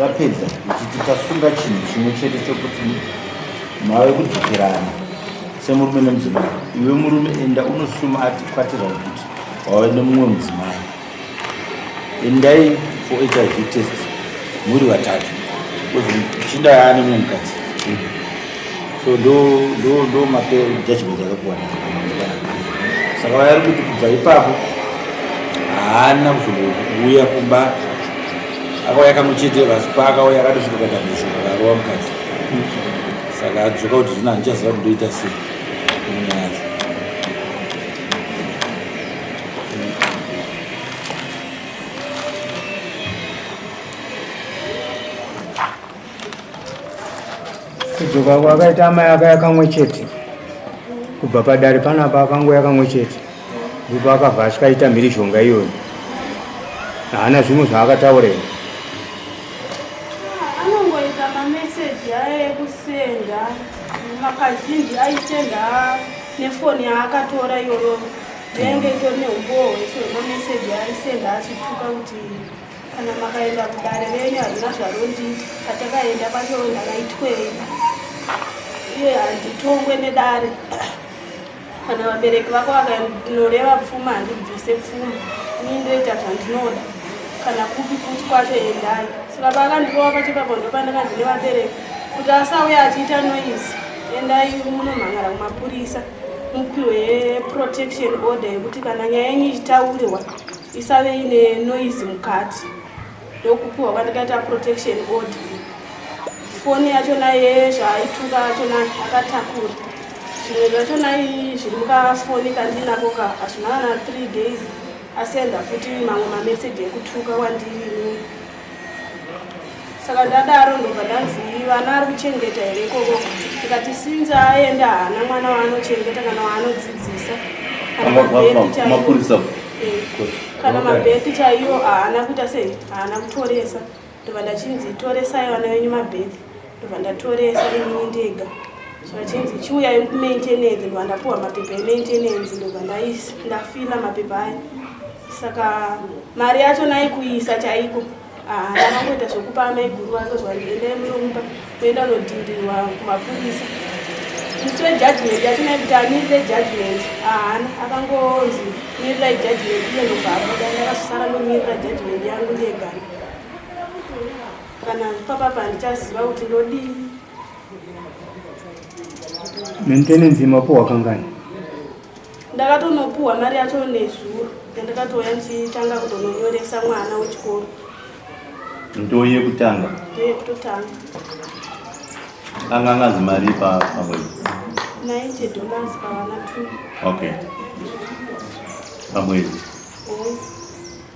rapedza ichiti tasunga chinhu chimwe chete chokuti mave kudzokerana semurume nemudzimai iwe murume enda unosuma ati kwatira kuti wave nemumwe mudzimai endai for hiv test muri vatatu chinda yaane mumwe mukadzi so ndo ndo ndo mape judgment yakakuwana saka vayari kuti kubva ipapo haana kuzouya kumba akauya kamwe chete vasi paakauya akatosvika kadamizvo akarova mukadzi saka adzoka kuti zvino handichaziva kuti ndoita sei munyaya yacho kudzoka kwakaita amai aka yakamwe chete kubva padare panapa akango yakamwe chete ndipo akabva asvikaita mhirizhonga iyoyo haana zvimwe zvaakataura ii anongoita mameseji aye ekusenda makazhinji aisenda nefoni yaakatora iyoyo yainge itori neumboo hwese hwemameseji aisenda achituka kuti kana makaenda kudare renyu hazvina zvarondiita patakaenda kwacho ndakaitwei iye handitongwe nedare kana vabereki vako vakandinoreva pfuma handibvise pfuma ini ndoita zvandinoda kana kupi kuti kwacho endai saka paakandirova pachipapo ndopandakanzi nevabereki kuti asauya achiita noise endai munomhangara kumapurisa mupiwe protection order yekuti kana nyaya yenyu ichitaurirwa isave ine noise mukati ndokupiwa kwandikaita protection order foni yachona yezvaaituka yachona akatakura zvimwe zvachona zviri mukafoni kandinako ka hazvina kana three days asenda futi mamwe mamessage ekutuka wandiri saka ndadaro ndobva ndanzi vana ari kuchengeta here ikoko ndikati sinzi aenda haana mwana waanochengeta kana waanodzidzisa kana mabheti eh, chaiyo haana kuita sei haana kutoresa ndobva ndachinzi toresai vana venyu mabheti ndobva ndatoresa inini ndega zvachinzi chiuyai kumaintenance ndobva ndapuwa mapepa emaintenance ndobva ndafila mapepa aya saka mari yacho naikuisa chaiko ndakangoita zvekupa amaiguru vake zvandiendai munomupa kuenda unodhirirwa kumapurisa musi wejudgment yacho naikuti amirire judgment haana akangonzi mirirai judgment iye ndobva abuda ndakazosara ndomirira judgment yangu ndegana kana papapa handichaziva kuti ndodii maintenance yemapuhwa kangani ndakatonopuhwa mari yacho nezuro yandakatouya ndichitanga kutononyoresa mwana wechikoro ndoo yekutanga ndoo yekutotanga anga angazi mari pamwedzi 90 dollars pavana two okay pamwedzi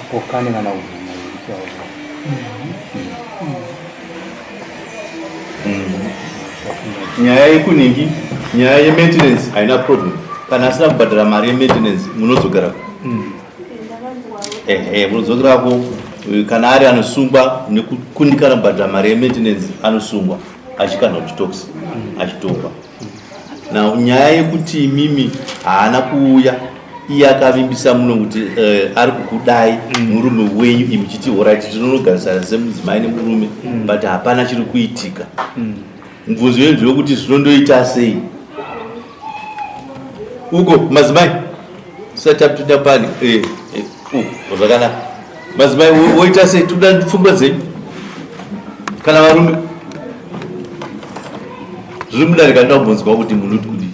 Apokane kana kuvhima iritaura. Nyaya yekunhingi, nyaya yementenance haina problem. Kana asina kubhadhara mari yementenance munozogara. Mm. Ehe, munozogara ko eh, kana ari anosungwa nekukundikana kubhadhara mari yementenance anosungwa achikana kuchitox achitongwa. Now nyaya yekuti imimi haana kuuya iye akavimbisa muno kuti uh, ari kukudai mm. murume wenyu imi chiti horaiti tinonogarisana semudzimai nemurume mm. but hapana chiri kuitika mm. mubvunzo mm. yenzi wekuti zvinondoita sei uko madzimai satapinda pani eh, eh, uko zvakanaka Madzimai woita sei toda pfungwa dzenyu kana varume zviri mudare kana ndambonzwa kuti munoti kudii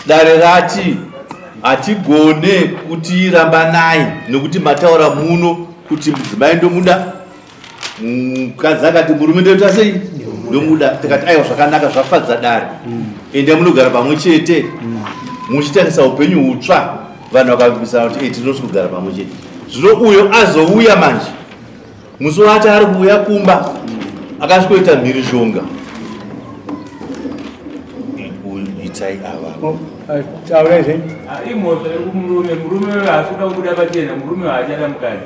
dare rati hatigone kutirambanai nekuti mataura muno kuti mudzimai ndomuda mukadzi akati murume ndoita sei ndomuda tikati aiwa zvakanaka zvafadza dare mm. ende munogara pamwe chete mm. muchitarisa upenyu hutsva vanhu vakavimbisana kuti tinosi kugara pamwe chete zvino uyo azouya manje musi waati ari kuuya kumba mm. akasvikoita mhirizhonga itai ava taurai zve ah, imhosva yekumurume murume asikuda kubuda pachena murume haachada mukadzi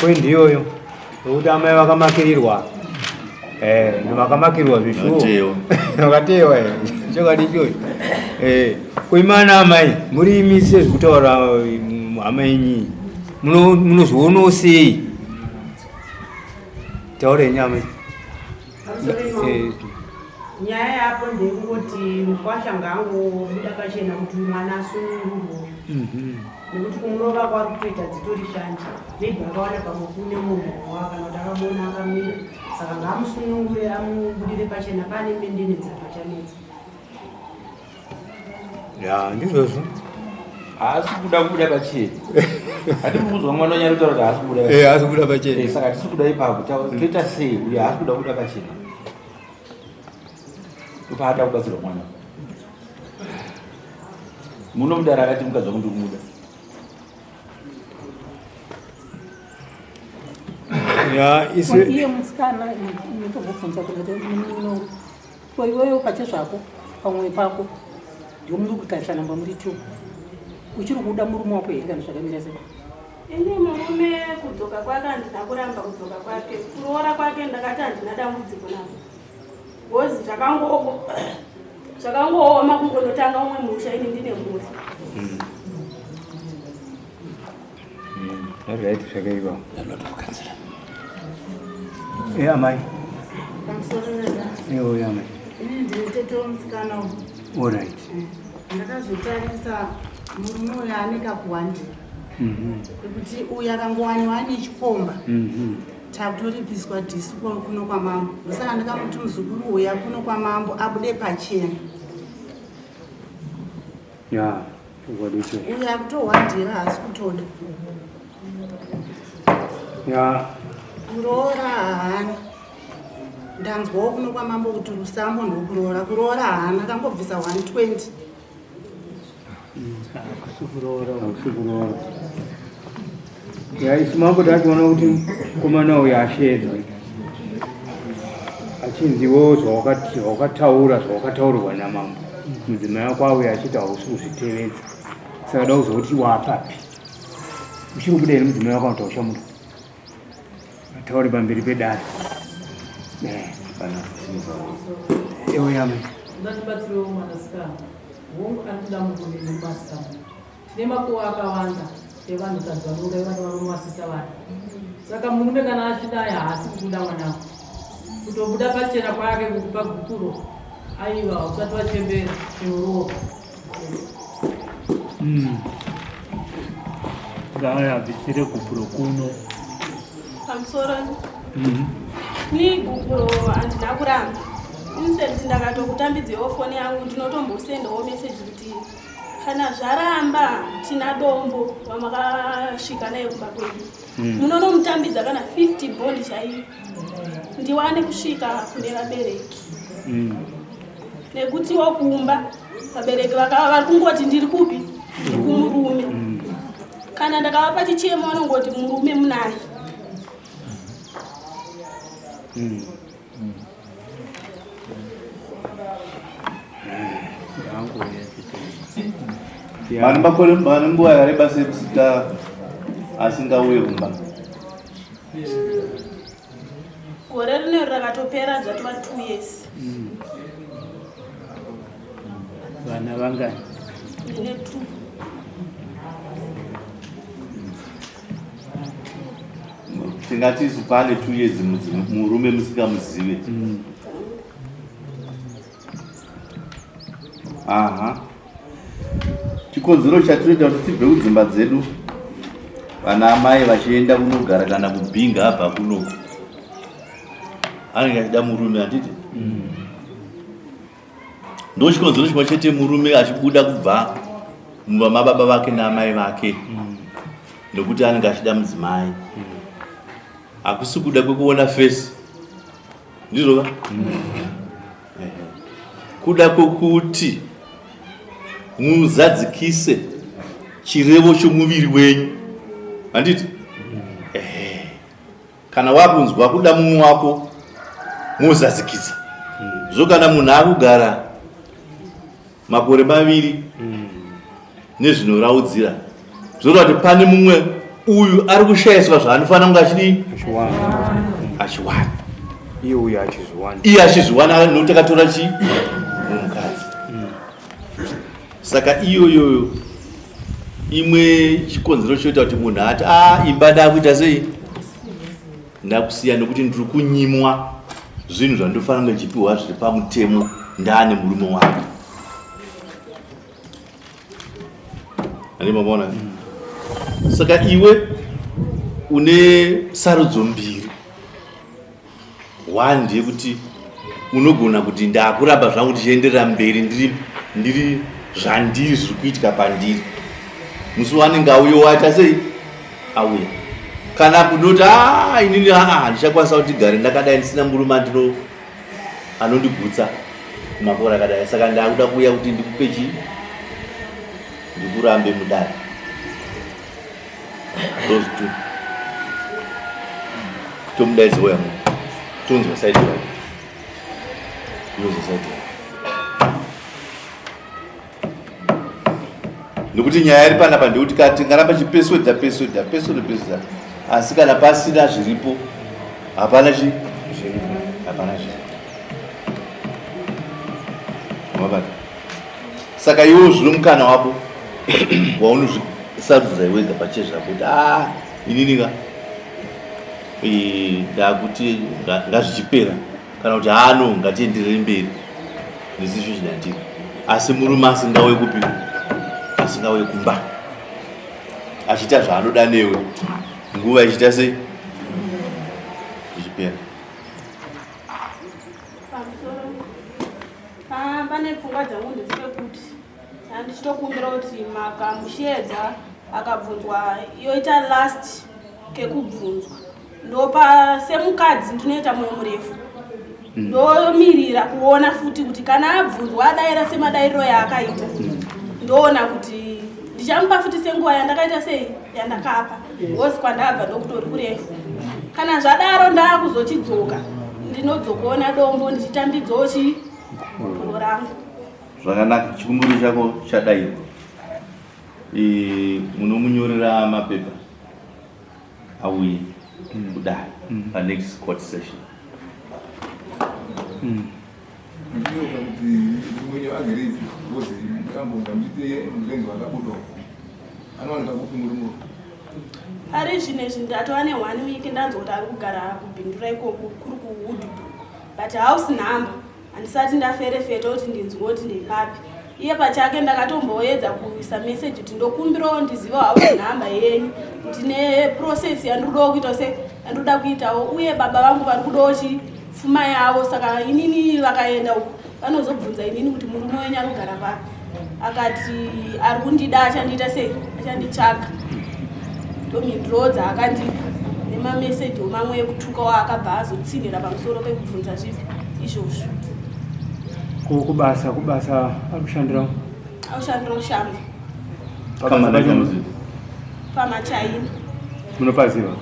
Point iyoyo nokuti amai vakamakirirwa eh, vakamakirirwa zvishuwo vakateyewa eh, chokwadi ichocho eh, kuimana amai muri imi sezvikutaura mm, hama yenyi munozvionawo sei taura yenyu amai nyaya yapo ndeyekungoti mukwasha ngaangobuda pachena kuti mwana asunungurwe mhm. nekuti kumurova kwari kutoita dzitori shanje maybe akawana pamwe kune munhu wakana kuti akabona akamira saka ngaamusunungure amubudire pachena pane mendene dzakachanetsa ya ndizvozvo haasi kuda kubuda pachena ati mukuzwa mwana wanyari kutaura kuti haasi kubuda eh, haasi kubuda pachena eh, saka tisi kuda ipapo toita sei uye haasi kuda kubuda pachena upaada kubatsirwa mwana muno mudara akati mukadzi wangu ndikumuda ya isi iye musikana ndikubvunza kuti Ko iwewe ukache zvako pamwoyo pako ndio muri kutarisa namba muri two uchiri kuda murume wako here kana zvakamira sei ini murume kudzoka kwake handina kuramba kudzoka kwake kuroora kwake ndakati handina dambudziko navo bcozi zvakangooko zvakangooma kungonotanga umwe musha ini ndine mhuri hmm. Alright, zvakaipa. Ndinotokukanzira. Eh, amai. Pamusoro nada. Eh, oya amai. Ini ndiri tete womusikana uyu. Alright. Eh, ndakazvitarisa murume uyo ane kakuwandira. Mhm. Kuti uyu akangowaniwa ane chikomba. Mhm. Takuripiswa disu kuno kwamambo. Ndosaka ndikamuti muzukuru uya kuno kwamambo abude pachena. Yeah, what is it? Uya kutohwadira haasi kutoda. Yeah. Kuroora haana. Ndanzwawo kuno kwamambo kuti rusambo ndokuroora. Kuroora haana kangobvisa 120. Kusukuroora. Kusukuroora. Yaisi mambo tachiona kuti mukomana uyu asheedzwa achinziwo zvawakataura zvawakataurirwa namambo mudzimai wako auya achiti hausi kuzvitevedza saka da kuzoti wapapi uchiri kubuda here mudzimai wako anotaura chamuda ataure pamberi pedare ewe yame Tine makuva akawanda evanhukadzi vanouraya vana varume vasisa vana. Saka murume kana achidai haasi kubuda mwanako, kutobuda pachena kwake kukupa gukuro aiva usati wachembera chinorova hmm. ngaayabvisire gupuro kuno pamusoro hmm. ni gupuro handina kuramba instant ndakatokutambidzeiwo foni yangu ndinotombosendawo meseji kuti kana zvaramba tina dombo wamakasvika naye kumba kwedu hmm. munonomutambidza kana 50 bond chaiyo ndiwane kusvika kune vabereki hmm. nekuti wakumba vabereki vakava vari kungoti ndiri kupi ndiri kumurume hmm. kana ndakavapa chichemo vanongoti murume munaye vanhu vakore vane nguva yareba sekusika asingauye kumba gore rine rakatopera dzatova t years mm. vana vangani ine two tingati isu pane two years murume musikamuzive mm. aha chikonzero chatinoita kuti tibve kudzimba dzedu vana amai vachienda kunogara kana kubhinga abva kunoku anenge achida murume handiti mm. ndochikonzero chimwe chete murume achibuda kubva mumba mababa vake naamai vake mm. nokuti anenge achida mudzimai mm. hakusi kuda kwekuona fesi ndizvova mm. kuda kwokuti muzadzikise chirevo chomuviri wenyu handiti kana wakunzwa kuda mumwe wako mozadzikisa zvo kana munhu akugara makore maviri nezvinoraudzira zvoreva kuti pane mumwe uyu ari kushayiswa zvaanofanira kunge achidii achiwana iye uyu achizviwana iye achizviwana nokuti akatora chii saka iyoyoyo imwe chikonzero choita kuti munhu ati a imba ndakuita sei ndakusiya nekuti ndiri kunyimwa zvinhu zvandofanira kunge ndichipiwa zviri pamutemo ndaane murume wake andimamona saka iwe une sarudzo mbiri one ndeyekuti unogona kuti ndakuramba zvangu ndichienderera mberi ndiri ndiri zvandiri zviri kuitika pandiri musi wanenge auyo waita sei auya kana kunoti aa ah, inini aa ah, ndichakwanisa kuti gare ndakadai ndisina murume andino anondigutsa makore akadai saka ndakuda kuuya kuti ndikupe chii ndikurambe mudare those two tomudaidza uya mu tonzwa side yake yonzwa side yake nekuti nyaya iri panapa ndekuti kati kana pachipeswedza peswedza peswedza peswedza asi kana pasina zviripo hapana chi hapana zviripo mabata saka iwo zvino mukana wako waunozvisarudza iwega pachezvako kuti a inini ka ndakuti ngazvichipera kana kuti hano ngatienderere mberi nesituation yandiri asi murume asingauye kupi asingauye kumba achiita zvaanoda newe nguva ichiita sei ichipera pamusoro pane pfungwa dzangu ndedzike kuti handichitokumbira kuti makamushedza akabvunzwa yoita last kekubvunzwa ndopa semukadzi ndinoita moyo murefu mm. ndomirira kuona futi kuti kana abvunzwa adaira semadairiro yaakaita mm. ndoona kuti ndichamupa futi senguva yandakaita sei yandakapa ngozi kwandabva ndokutori kurefu kana zvadaro ndaakuzochidzoka ndinodzokuona dombo ndichitambidzawo chi gupuro rangu zvakanaka chikumbiro chako chadaiwa Eh, munomunyorera mapepa auye kudai panext court session Ndinoda kuti mwenye agerezi ngozi mutambo ndamjite murengi wakabuda anowanika kupi murume ari zvine izvi ndatova nehwani wiki ndanzwa kuti ari kugara kubhindura ikoko kuri kuwoodbrook but house number handisati ndaferefeta kuti ndinzwa kuti ndepapi iye pachake ndakatomboedza kuisa message kuti ndokumbirawo ndizive house number yenyu kuti neprocess yandiri kudawo kuita se yandiri kuda kuitawo uye baba vangu vari kudawo chii pfuma yavo saka inini vakaenda uko vanozobvunza inini kuti murume wenyu anogara papi akati ari kundida achandiita sei achanditsvaga ndomhindrodza akandipa nemameseji omamwe ekutukawo akabva azotsinhira pamusoro pekubvunza zvipi izvozvo ko kubasa kubasa ari kushandira akushandira ushamba pamachaina munopaziva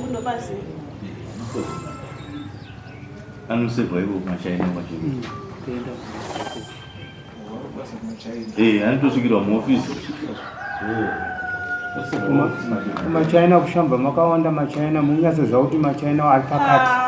ndopaziva anosevha ivo kumachaina kwachena mm, eh, anotosvikirwa muofisi machaina kushamba makawanda machaina munyatso zvakuti machaina ari pakati ah,